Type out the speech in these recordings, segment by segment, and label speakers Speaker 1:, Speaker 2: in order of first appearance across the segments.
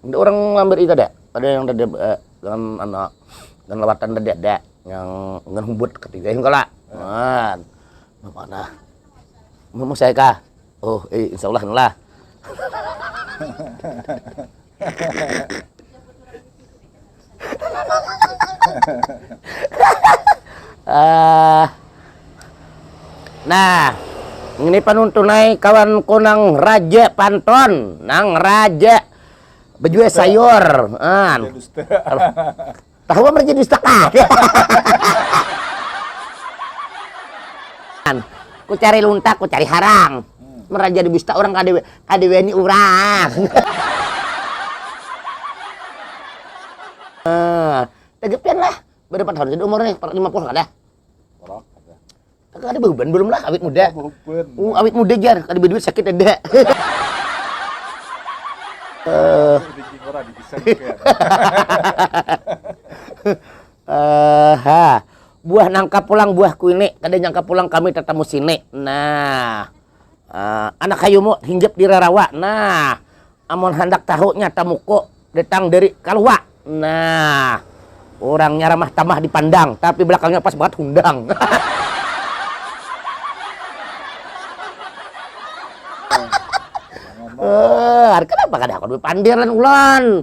Speaker 1: Ada urang mambari
Speaker 2: kada, kada yang tadi eh dalam anak dan lawatan tadi ada yang dengan humbut ketiga yang kala nah manah mama saya kah oh eh insya Allah lah uh, nah ini panuntunai kawan kunang raja panton nang raja bejual sayur ah. tahu apa jadi dusta ku cari lunta ku cari harang hmm. meraja di dusta orang kadewe Kada wani urang. Nah, taga pian lah. Barapan tahun sudah umur nih? Lima puluh kada? Orang kada. Taga kada behuban belum lah, awit muda. Oh, uh, awit muda jar, kada berduit sakit ada. uh, uh, ha. Buah nangka pulang buah kuini, kada nyangka pulang kami tetamu sini. Nah. Uh, anak hayumu hinggap di rarawa. Nah, amun handak tahu nya tamuku datang dari kaluwa. Nah, orangnya ramah tamah dipandang, tapi belakangnya pas banget hundang. Eh, uh, kenapa kada aku duit pandir lan ulan?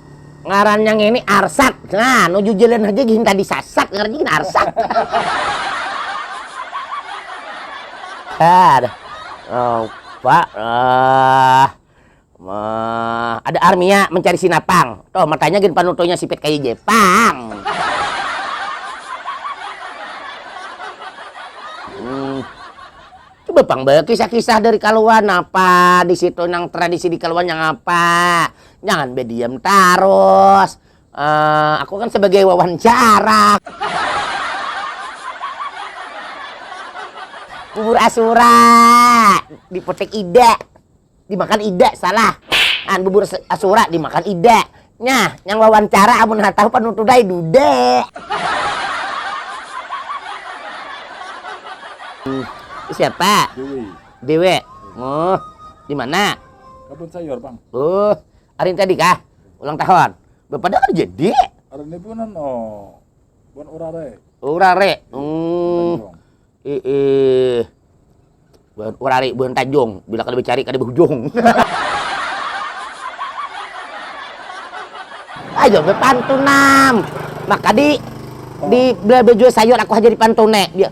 Speaker 2: Ngarannya ngini arsat. Nah, nu jujuran haja gin tadi sasat ngarannya gin arsat. Aduh. Lupa. Uh, uh, ada armia mencari sinapang. Tuh, matanya gin panutonya sipit kayak Jepang. Hmm. Coba pang kisah-kisah dari Kaluan apa di situ nang tradisi di Kaluan yang apa? Jangan bediam tarus. Uh, aku kan sebagai wawancara. Bubur asura di potek ida. Dimakan ida salah. An bubur asura dimakan ida. Nah, yang wawancara amun tahu panutudai dude. Siapa? Dewi. Dewe. Oh, di mana? Kebun sayur,
Speaker 1: Bang. Oh, hari
Speaker 2: tadi kah? Ulang tahun. Bepada hari jadi. Hari ini bulan
Speaker 1: oh. Bulan urare. Urare. Hmm. Eh, eh.
Speaker 2: Bulan urare, bulan Tanjung. Bila kada dicari kada berujung. Ayo bepantunam. Maka di di bela baju sayur aku hajar di pantone. Dia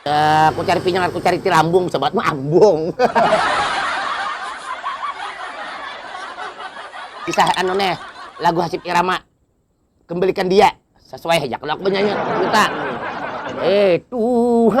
Speaker 2: Eh, ku cari pinyang, ku cari tilambung, bisa banget mah ambung. Kisah anu neh, lagu Hasyim Irama, Kembalikan Dia, sasuai haja kalo aku banyanyi, minta. Eh Tuhan.